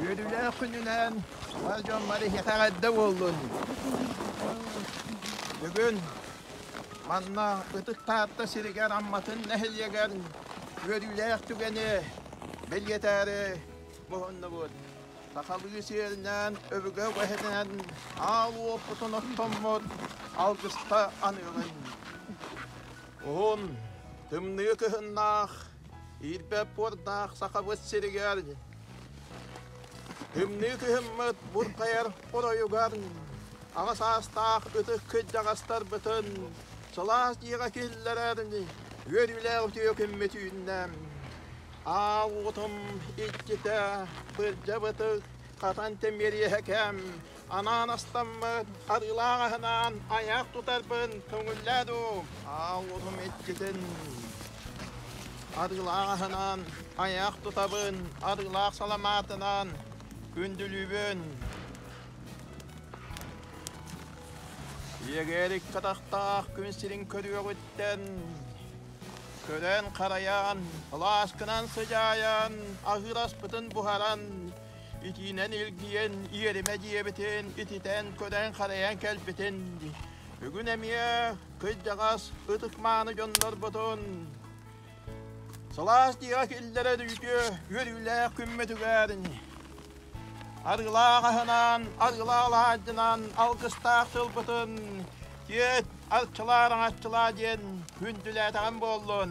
Үөрүүлээх күнүнэн ол дьон бары иһиэхэх эрдэ буоллун. Бүгүн манна Ытык Таатта сиригэр Амматын нэһилиэгэр үөрүүлээх түгэни бэлиэтээри муһуннубут. Сахалыы сиэринэн өбүгэ үгэһинэн аал уопутун оттоммут алгыста аныгын. Уһун, тымныы кыһыннаах Ирбэппурдаах Сахабыт сиригэр Үмнүү кыһыммыт буркайар оройугар аҕа саастаах ытык кырдьаҕастарбытын сылаас дьиэҕэ киллэрэр үөрүүлээх үтүө күммүт үүннэ. Аал утум иччитэ, былдьабытык, хатан тимириэһэ кэм Анаан астаммыт арыылаах аһынан айах тутарбын көҥүллээ дуу? Ааллыбым иккитин. Арыылаах аһынан айах тутабын арыылаах саламаатынан күндүлүүбүн. Ийэгээр икки атахтаах күн сирин көрүөҕүттэн көрөн-харайан, алааскынан сыдьаайан, аһыыр аспытын буһаран итиинэн илгийэн иэримэ диэбитин ититэн көрөн-харайан кэлбитин дии бүгүн эмиэ кырдьаҕас ытык-мааны дьоннорбутун сылаас дьиэҕэ киллэрэр үтүө үөрүүлээх күммүтүгэр арыылаах аһынан арыылаах алаадьынан алгыстаах тылбытын тиэт арчылаар аҥаччылаа диэн күндүлээтэҕим буоллун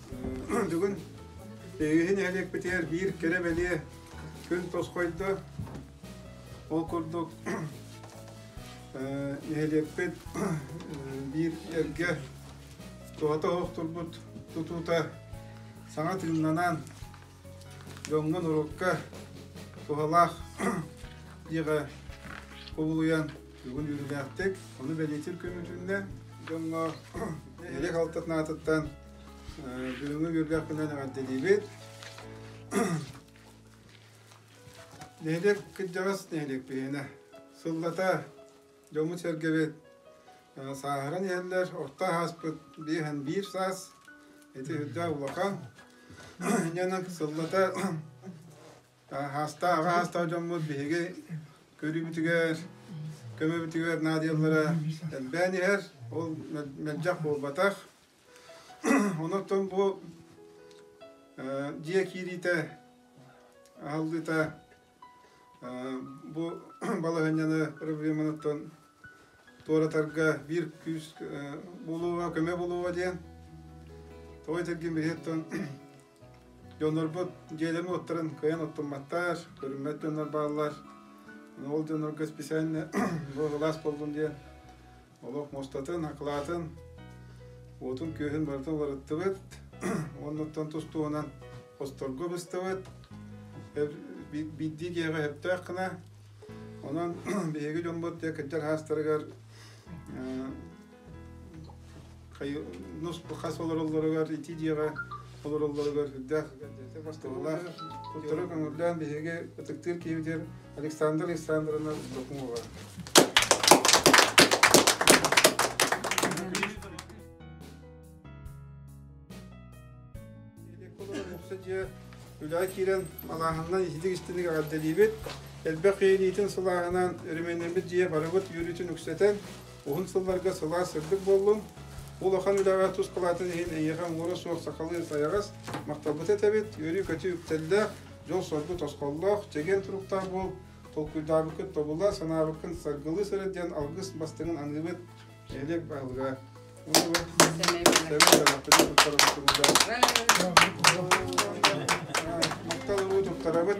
бүгүн иһи нэһилиэкпитигэр биир кэрэ бэлиэ күн тосхойдо. Ол курдук нэһилиэкпит биир эргэ туһата оһох турбут тутуута саҥа тыыннанан дьоҥҥун урукка туһалаах дьиэҕэ кубулуйан бүгүн үөрүүлээхтик ону бэлиэтиир көмүтүннэ дьоҥҥо нэһилиэк алтатын аатыттан Бүгүҥҥү күргүөккүнэн эҕэрдэлиибит. Нэһилиэк кырдьаҕас нэһилиэк биһиэнэ. Сыллата дьоммут-сэргэбит сааһыран иһэллэр. Орто ааспыт биэһэн биир саас ити үрдээх улахан. Янан сыллата аастаах аастаах дьоммут биһиги көрүүбүтүгэр, көмөбүтүгэр наадыйаллара элбээн иһэр. Ол мэлдьэх буолбатах. Онотон бу дьиэ киириитэ, аһыллыыта бу балаһыанньаны проблеманан туоратарга биир күүс буолуоҕа, көмө буолуоҕа диэн тоҕо этэргин билиһиттэн дьоннорбут дьиэлэрин уоттарын кыайан оттумматтар, көрүммэт дьоннор бааллар. Ол дьоннорго специально бу былаас буоллун диэн олох мустатын, акылаатын, уотун-күөһүн барыта уларыттыбыт. Оннуттан тустуунан хосторго быстыбыт. Биирдии киэҕэ өптөөх гына. Онон биһиги дьоммут кырдьар хаастарыгар хас олороллоругар ити дьиэҕэ олороллоругар үрдээх бастыҥалаах куттара көҥүллээн биһиги ытыктыыр киһибитигэр Александр Александровна Докумова дьиэ үлэҕэ киирэн малааһынынан иһитик истиник эҕэрдэлиибит элбэх үйэлиитин сылааһынан өрөмүөннэммит дьиэ барыбыт үөрүүтүн үксэтэн Уһун сылларга сылаас сырдык буоллун. Улахан үлэҕэ тус палаатын иһин эйиэхэ уҥуора суох сахалыы сайаҕас махталбыт этэбит. Үөрүү-көтүү үктэллээх, дьол-соргу тосхоллоох, чэгиэн туруктаах буол. Толкуйдаабыккыт тобула, санаабыккын саргылыы сырыт диэн алгыс бастыҥын аныыбыт. Нэһилиэк баһылыга Уунова, Сэмэй Сэмэхпитин туттарабыт тугута. Махтал уруу туттарабыт.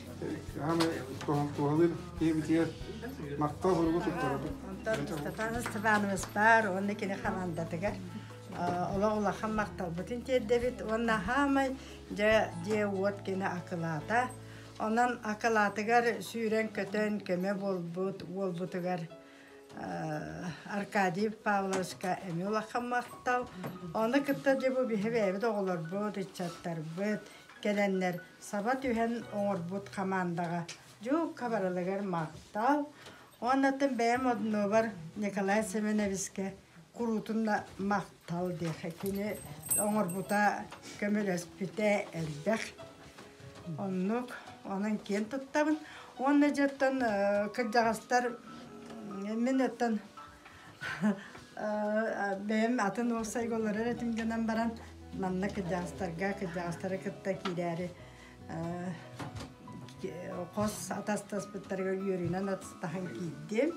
туоһалыыр киэбитигэр Марта оһуругу туттарабыт. Онтон Степан Степановичпар уонна кини хамаандатыгар олох улахан махталбытын тиэрдэбит уонна хаамай дьэ дьиэ уот кини акылаата. Онон акылаатыгар сүүрэн-көтөн көмө буолбут уолбутугар Аркадий Павловичка эмиэ улахан махтал. Ону кытта дьэ бу биһи бэйэбит оҕолорбут, ыччаттарбыт кэлэннэр саба түһэн оҥорбут хамаандаҕа дьуукка барылыгар махтал уонна бэйэм однуобар Николай Семеновискэ куруутун махтал диэхэ кини оҥорбута көмөлөспүтэ элбэх оннук онон киэн туттабын уонна дьоттон кырдьаҕастар мин оттон бэйэм атын уопсайга олорор этим гынан баран манна кырдьаҕастарга кырдьаҕастары кытта киирээри хос атастаспыттарыгар үөрүүнэн атастаһан киирдим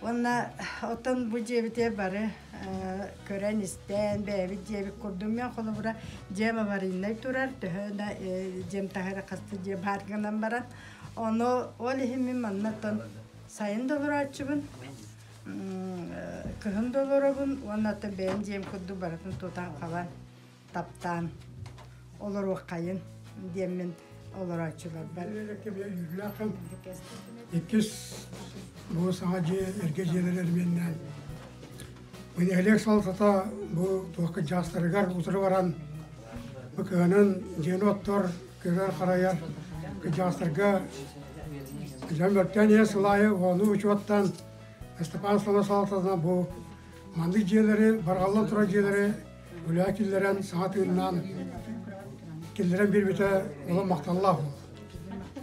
уонна оттон бу дьиэбити бары көрөн-истэн бэйэбит дьиэбит курдум мен холобура дьиэм аварийнай турар төһө да дьиэм таһы да хасты дьиэ баар гынан баран ону ол иһин мин маннаттан Сайын да олорооччубун, кыһын да олоробун уонна ата бэйэм диэм курдук барытын тутан хабан, таптаан олоруоххайын диэммин олорооччуларбар. Иккис бу саҥа дьиэ, эргэ дьиэлэр эрбиэннээн Нэһилиэк салалтата бу туох чаастарыгар утары баран бу кыһанан дьиэни оттор, кыырар-харайар кыдьаастарга дьон мөлтөөн ийэ сыл аайы ууну учуоттаан Ыстапаан Сала салалтатына бу маннык дьиэлэри, барҕаллан турар дьиэлэри үлэҕэ киллэрэн, саҥа тыыннаан киллэрэн биэрбитэ олох махталлаах.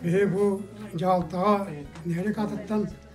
Биһи бу дьаһалтаҕа нэһилиэк аатыттан